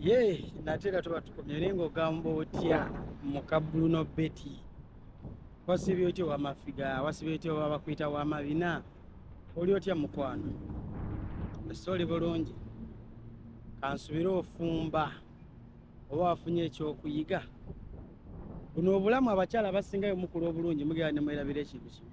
ye nate era tuba tukomye naye ngaogamba otya mukabuluno beti wasibye otya owamafiga wasibye otya owabakwita wamabina oli otya mukwano ese oli bulungi kansubire ofumba oba wafunye ekyokuyiga buno obulamu abakyala abasingayo mukulu obulungi mugera nemwerabira ekintu kimu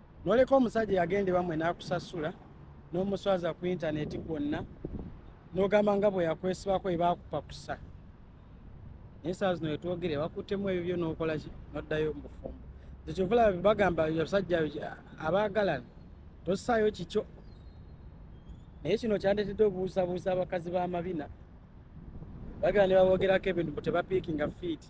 noleka omusajja yagenda ewamwe nakusasula nomuswaza ku intaneti kwonna nogamba nga bwe yakwesibako ebakupakusa naye saa zino wetwogere bakuttemu ebyo byo nokolaki noddayo mubufumbo ekyovula bagamba abasajja abaagalana tosaayo kikyo naye kino kyandeetedde obuusabuusa abakazi b'amabina bagala ne babogerako ebintu bu tebapiikinga fiiti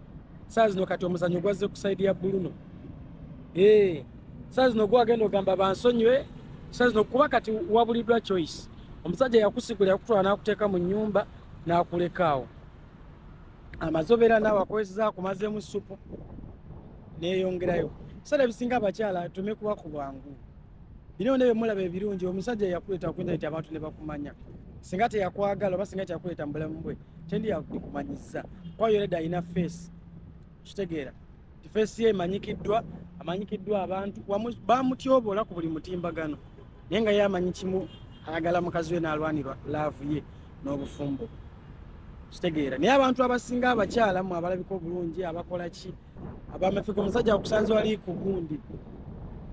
saa zino kati omuzanyo gwazze ku saidi ya buluno eh, saa zino gwagenda ogamba bansonyiwe saa zino kuba kati wabuliddwa choice omusajja yakusigula yakutwala nakuteeka mu nyumba nakulekaawo amaze obeera naawe akozeza akumazemu supu neyongerayo sala ebisinga abakyala tume kuba ku bwangu Bino ne bemulaba ebirungi omusajja yakuleeta okuyinza nti abantu ne bakumanya singa teyakwagala oba singa teyakuleeta mu bulamu bwe tendi yakumanyiza kwayo reda alina feesi kitegeera ti feesi ye emanyikiddwa amanyikiddwa abantu bamutyobola ku buli mutimbagano naye nga ye amanyi kimu ayagala mukazi we n'alwanirwa laavu ye n'obufumbo kitegeera naye abantu abasinga abakyala mu abalabika obulungi abakola ki abamefika omusajja akusanze wali ku gundi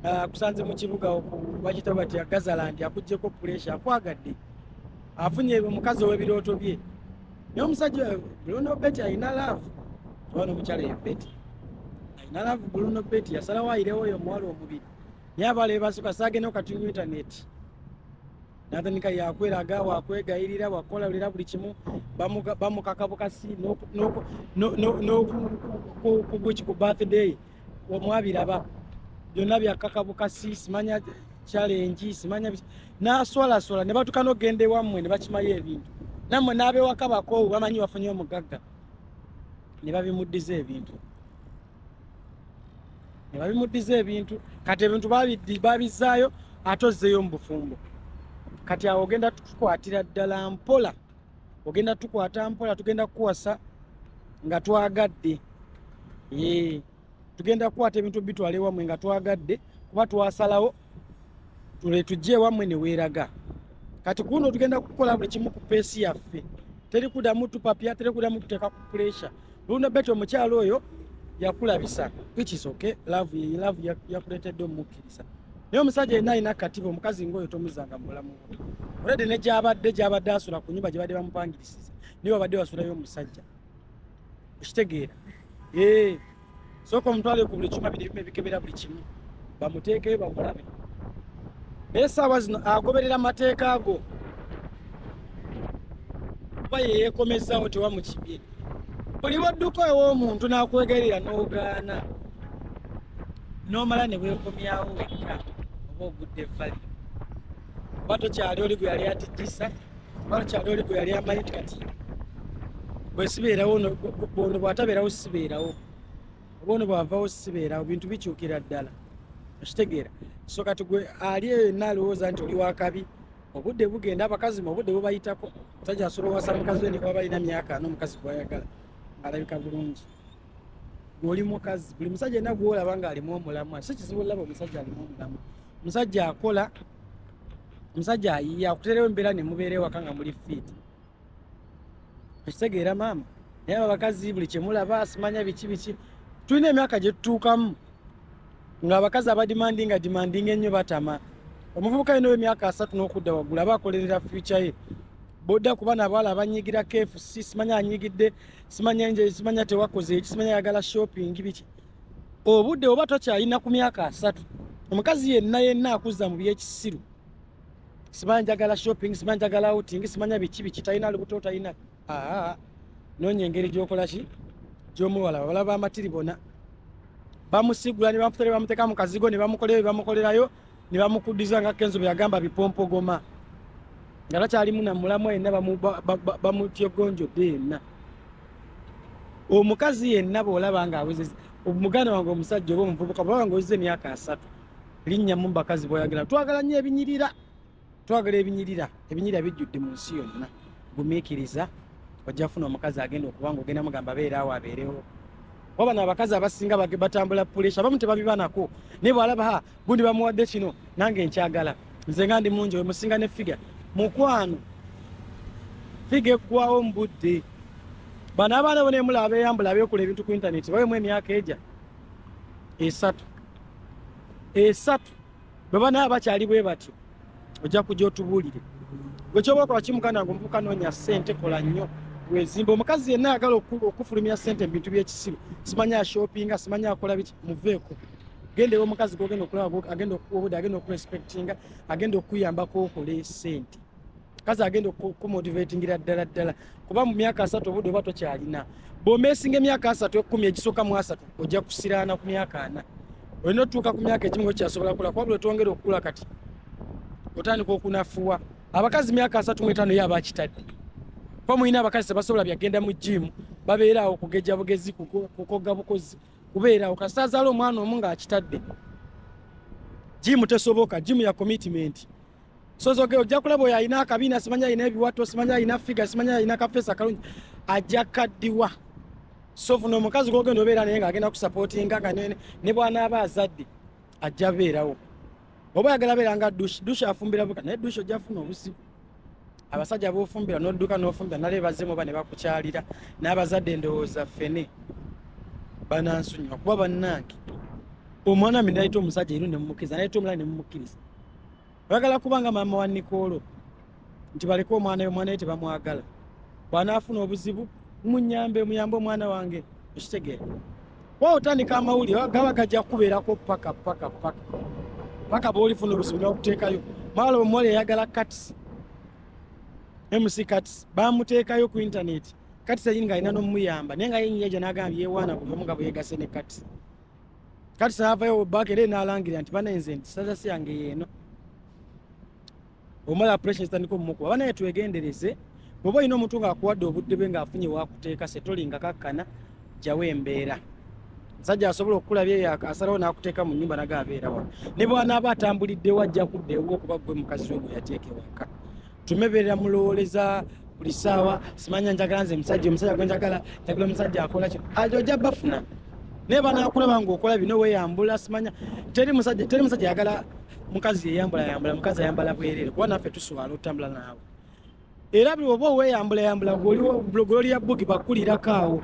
ah, akusanze mu kibuga bakita bati agazalandi akugjeko puresha akwagadde afunye omukazi ow'ebirooto bye naye omusajja bruno beti alina laavu oba nomukyala ye beti alina laavu bruno beti yasalawo ayirewo oyo omuwala omubiri naye abala ebasuka saagenda okati mu intaneti natandika yakweraga wakwegayirira wakukolalira buli kimu bamukaka bukasi nokugweki ku birthday omwabiraba byonna byakaka bukasi simanya challenge simanya naswalaswala ne batuka nogenda ewammwe ne bakimayo ebintu nammwe n'abewaka bakoowu bamanyi bafunye omugagga ne babimuddiza ebintu ne babimuddiza ebintu kati ebintu babizzaayo ate ozzeeyo mu bufumbo kati awo ogenda tukwatira ddala mpola ogenda tukwata mpola tugenda kukuwasa nga twagadde tugenda kukwata ebintu bitwala ewamwe nga twagadde kuba twasalawo tuletujja ewammwe ne weeraga kati kuno tugenda kukola buli kimu ku peesi yaffe teri kudamu tupapya teri kudamu tuteeka ku puresha luna beti omukyalo oyo yakulabisa ikisoke love ye love yakuletedde omukkiriza naye omusajja yenna alina katiba omukazi ngaoyo tomuzanga mulamu olede ne gyabadde gyabadde asula ku nyumba gyebadde bamupangirisiza niwe babadde basulayo omusajja okitegeera eh, sooka omutwale ku buli kyuma bino ebimu ebikebera buli kimu bamuteekeyo bamulabe naye saawa zino agoberera mateeka go kuba yeyekomezawo tewamukibye buli bwodduka ew'omuntu n'akwegerera n'ogaana n'omala ne weekomyawo wekka oba ogudde vali oba tokyali oli gwe yali atijjisa oba tokyali oli gwe yali amanyi ti kati bwesibeerawo ono bwatabeerawo sibeerawo oba ono bwavawo sibeerawo bintu bikyukira ddala okitegeera so kati gwe ali eyo yenna alowooza nti oli wakabi obudde bugenda abakazi mu obudde bubayitako otajja asobola owasa mukazi we newaba alina myaka n'omukazi gwayagala alabika bulungi oli mukazi buli musajja alina gwolaba nga alimu omulamwa si kizibu olaba omusajja alimu omulamwa omusajja akola omusajja ayiya akuterewo embeera ne mubeera ewaka nga muli fiiti ekitegeera maama naye abakazi buli kyemulaba simanya biki biki tulina emyaka gye tutuukamu ng'abakazi abadimandi nga dimandinga ennyo batama omuvubuka yina owemyaka asatu n'okudda waggulu aba akolerera fyuca ye bodda kuba nabaala abanyigira kfc simanya anyigidde simanya nje simanya tewakoze ekimanya yagala shopping biki obude oba tokyalina ku myaka asatu omukazi yenna yenna akuzza mu byekisiru simanya njagala shopping simanya njagala outing simanya biki biki talina lubuto talina aa nonya engeri gyokola ki gyomuwala babala bamatiri bona bamusigula ne bamufutale bamuteka mu kazigo ne bamukolera bye bamukolerayo ne bamukuddiza nga kenzo bwe yagamba bipompogoma nga takyalimu na mulamu yenna bamutyegonjodde yenna omukazi yenna bw'olaba nga awezeza omuganda wange omusajja oba omuvubuka bwaba nga ozza emyaka asatu linnyamu mu bakazi b'oyagala twagala nnyo ebinyirira twagala ebinyirira ebinyirira bijjudde mu nsi yonna gumiikiriza ojja funa omukazi agenda okuba nga ogenda mugamba beera awo abeerewo waba nabakazi abasinga batambula pulesha abamu tebabibanako naye bwalaba ha gundi bamuwadde kino nange nkyagala nze nga ndi mungi wemusinga ne figa mukwano figa eggwawo mu budde bano abaana bona emula abeyambula abekula ebintu ku intaneti bawemu emyaka eja esatu esatu bwe banaaba bakyali bwe batyo ojja kujja otubuulire gwe kyoba okola ki muganda wange omuvuka noonya ssente kola nnyo wezimba omukazi yenna ayagala okufulumira ssente mu bintu by'ekisiru simanyi ashopinga simanyi akola biki muveeko genda ewa omukazi gogenda okulaba agenda okukuwa obude agenda okurespectinga agenda okukuyambako okole ssente kazi agenda okukumotivatingira ddala ddala kuba mu myaka asatu obudde oba tokyalina bwomesinga emyaka asatu ekumi egisooka mu asatu ojja kusiraana ku myaka ana olina otutuuka ku myaka egimu ekyasobola kula kuba bwetwongera okukula kati otandika okunafuwa abakazi myaka asatu mu etaano yo abakitadde kuba mulina abakazi tebasobola byagenda mu jiimu babeeraawo kugejja bugezi kukoga bukozi kubeeraawo kasita azaala omwana omu ng'akitadde jiimu tesoboka jiimu ya komitimenti sozoge ojja kulaba oyo alina akabina simanyi alina ebiwato simanyi alina figa simanyi alina kafeesi akalungi ajja kaddiwa sofu nomukazi gogenda obeera naye nga agenda kusapotinga nga ne bwanaaba azadde ajja beerawo oba yagala beera nga dushi dushi afumbira buka naye dushi ojja funa obuzibu abasajja bofumbira nodduka nofumbira nale bazemu oba ne bakukyalira n'abazadde endowooza fene banansonyiwa kuba bannange omwana mi nayita omusajja ero nemumukkiriza nayita omulala nemumukkiriza bagala kuba nga maama wa nikoolo nti baleke omwana yo omwana ye tebamwagala bwanaafuna obuzibu munyambe muyambe omwana wange ekitegeera wa otandika amawulire gaba gajja kukubeerako paka paka paka paka bwolifuna obuzibu nokuteekayo maala omuwala eyagala kats mc kats bamuteekayo ku intaneti kats ayini nga alina nomuyamba naye nga yenyiyaja nagamba yewaana buli omu nga bweyegase ne kats kati saavayo obubaka era enaalangirira nti banaye nze nti sitasi yange yeeno omala pressure zitandika omumukuba banaye twegendereze bwoba olina omuntu ngaakuwadde obudde bwe ngaafunye wakuteeka setolinga kakkana jawo embeera musajja asobola okukulabya eyo asalawo n'akuteeka mu nnyumba naga abeera wano ne bwanaaba atambuliddewo ajja kudda ewuwo kuba gwe mukazi we gwe yateeka ewaka tumeberera mulowoleza buli saawa simanya njagala nze musajja omusajja gwe njagala njagala omusajja akola kino ajo ojja bafuna naye banakulaba nga okola bino weyambula simanya teri musajja teri musajja yagala mukazi yeyambula yambula mukazi ayambala bwerere kuba naffe tuswala otambula naawe era buli oba oweyambula yambula gololi ya bugi bakulirako awo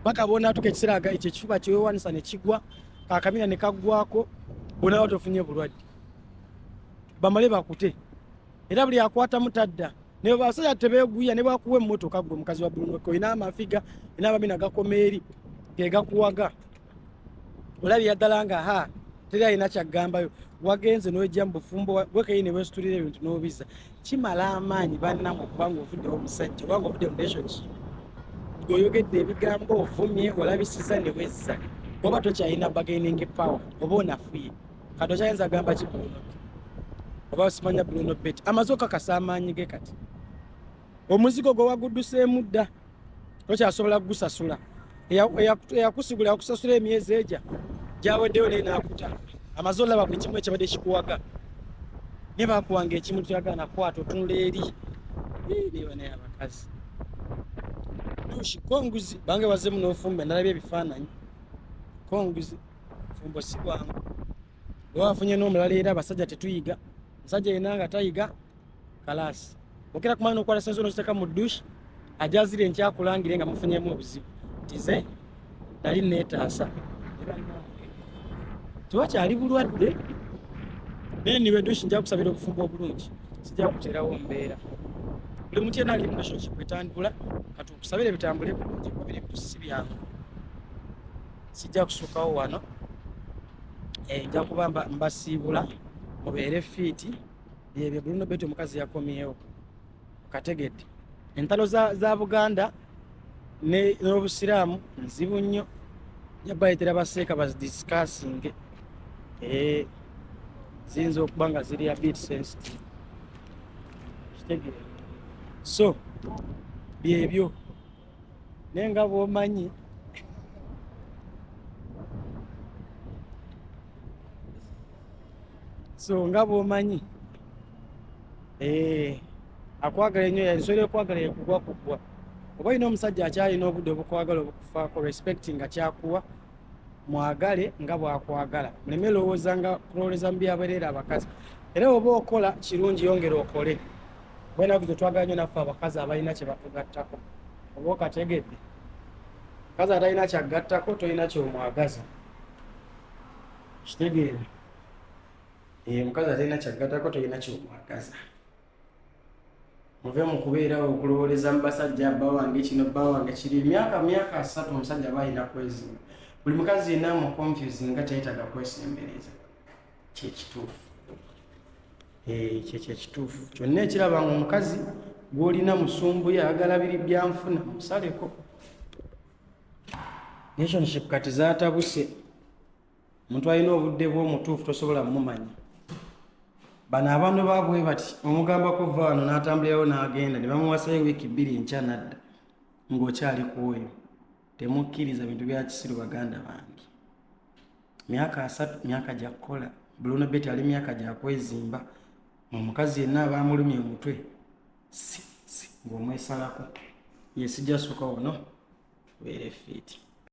paka bonatuka ekiseera ekyo ekifuba kyewewanisa nekigwa kakamina nekaggwako bonawa tofunye bulwadde bamale bakute era buli akwatamu tadda naye basajja tebeguya ne bakuwa emmotoka gwe mukazi wa Bruno ko ina amafiga ina abamina gakoma eri gegakuwaga olabye yaddala nga ha teri alina kyaggambayo wagenze n'ojja mu bufumbo wekayi ne wesitulira ebintu n'obiza kimala amaanyi bannamu okubanga ovuddewo omusajja obanga ovudde mu relationship gweoyogedde ebigambo ovumye olabisiza ne wezza oba tokyalina bargaining power oba onafuye kati okyayinza agamba ki bruno oba osimanya bruno bet amaze okakasa amaanyi ge kati omuzigo gwe wagudduseemu dda tokyasobola kugusasula eyakusigula yakusasula emyezi egya gyaweddeyo naye nakuta amaze olaba buli kimu ekibadde kikuwaga naye bakuwanga ekimu kyagala nakwata otunula eri nebanaye abakazi dushi konguzi bange wazemu nofumba nalabye ebifaananyi konguzi fumbo si bwangu newafunye n'omulala era abasajja tetuyiga musajja yena nga tayiga kalaasi okera kumala nokwala senzo nokiteka mu dush ajazire nkyakulangire nga mufunyemu obuzibu tize nali netaasa tewakyali bulwadde naye niwe dush nja kusabira obufumbo obulungi sija kuterawo mbeera buli muti yena ali murelationship etandula katukusabire bitambule bulungi kuba biri bitusisi byangu sijja kusukawo wano eh, nja kuba mbasiibula mubeere fiiti byebyo bruno beti omukazi yakomyewo kategedde entalo za, za buganda n'obusiraamu nzibu nnyo jabayitira baseeka bazidisikasinge eh, ziyinza okuba nga ziri a bit sensitive kitegeere so byebyo naye nga bwomanyi so nga bwomanyi eh, akwagala enyo ensolo ekwagala yekugwa kugwa oba olina omusajja akyalina obudde obukwagala obukufaako respect nga kyakuwa mwagale nga bwakwagala muleme lowooza nga kulowoleza mu byabereera abakazi era oba okola kirungi yongera okole bwenaku zetwagala nyo naffe abakazi abalina kyebatugattako oba okategedde kazi atalina kyagattako tolina kyomwagaza kitegeere eh, mukazi atalina kyagattako tolina kyomwagaza muve mu kubeerawo okulowooleza mu basajja bba wange kino bba wange kiri emyaka myaka asatu omusajja aba alina kwezimba buli mukazi yenna mu confuse nga teyetaaga kwesembereza kyekituufu eh, kyekyo ekituufu kyonna ekiraba nga omukazi gwolina musumbuye ayagala biri byanfuna musaleko nationship kati zatabuse omuntu alina obudde bw'omutuufu tosobola mumanya bano abantu babwe bati omugambako va wano n'atambulirawo n'agenda ne bamuwasayo wiiki bbiri enkya nadda ng'okyali ku oyo temukkiriza bintu bya kisiru baganda bange myaka asatu myaka gya kukola buluno beti ali myaka gya kwezimba omukazi yenna abaamulumya omutwe si si ng'omwesalako yesijasuka ono beere fiiti